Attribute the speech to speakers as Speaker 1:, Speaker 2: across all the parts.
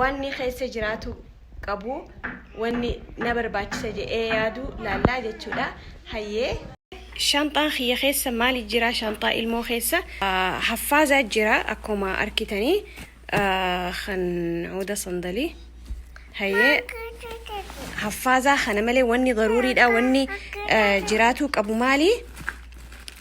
Speaker 1: wanni keessa jiraatu qabu wanni na barbaachisa jedhee yaadu laallaa jechuudha hayyee shanxaan kiyya keessa maali jira shanxaa ilmoo keessa haffaazaa jira akkuma arkitanii kan huda sandalii hayyee haffaazaa kana malee wanni garuuriidha wanni jiraatuu qabu maali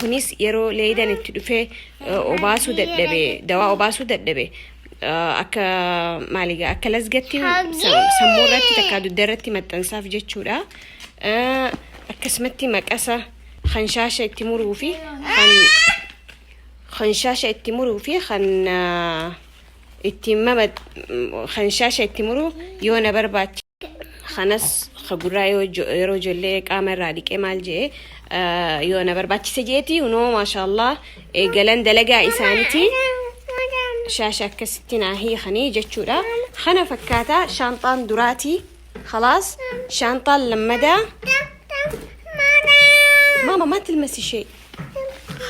Speaker 1: kunis yeroo leeydan itti dhufee obaasuu dadhabe dawaa obaasuu dadhabe akka maaliga akka lasgatti sammuu irratti takka dugda irratti maxxansaaf jechuudha akkasumatti maqasa kan shaasha itti muruu fi kan kan shaasha itti muruu fi kan itti mama kan shaasha itti muruu yoo na barbaachi kanas ka gurraa yoo jo- yeroo ijoollee qaama irraa dhiqee maal jee yoo na barbaachise jeeti unoo maashaallah eegalan dalagaa isaanitii shaasha akkasitti naa hiikanii jechuudha kana fakkaata shaanxaan duraatii khalaas shaanxaan lammadaa maama maa tilmasi shee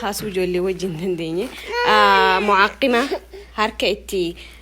Speaker 1: kaasuu ijoollee wajjin dandeenye mucaaqima harka itti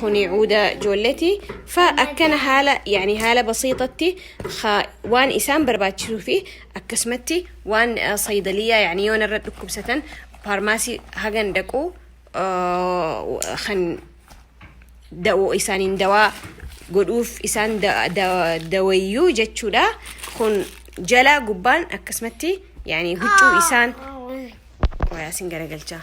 Speaker 1: kuni cuuda joolleti fa akkana haala yani haala basiixatti waan isaan barbaachisuu fi akkasumatti waan saydaliyaa yani yoon irra dhukkubsatan faarmaasii hagan dhaqu kan da'oo isaaniin dawaa godhuuf isaan dawayyuu jechuudha kun jalaa gubbaan akkasumatti yani huccuu isaan waayaa sin garagalchaa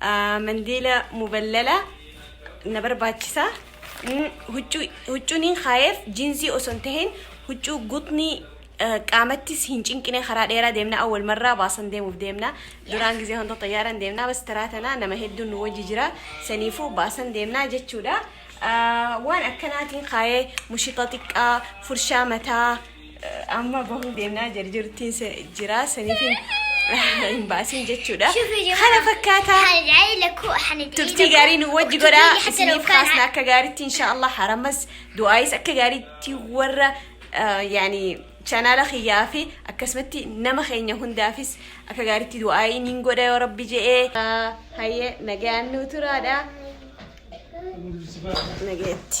Speaker 1: Mandiila muballala na barbaachisa. Huccuuniin kaayeef jiinsii osoo hin tahin huccuu gutnii qaamattis hin cinqine karaa dheeraa deemna awwal marraa baasan deemuuf deemna duraan gizee hunda xayyaaran deemna bas taraa tanaa nama hedduun nu wajji jira saniifuu baasan deemna jechuudha. waan akkanaatiin kaayee mushixa xiqqaa furshaa mataa amma bahuu deemnaa jirjirtiin jira saniifin hin baasin jechuudha. Kana
Speaker 2: fakkaata turtii gaarii nu wajji
Speaker 1: godha isiniif kaasna akka
Speaker 2: gaariitti inshaallah
Speaker 1: haramas du'aayis akka gaariitti warra yaani Chanaala kiyyaa fi akkasumatti nama keenya hundaafis akka gaariitti du'aa'ii niin godha yoo rabbi je'ee. Hayyee nagayaan nuu turaadha. Nagayetti.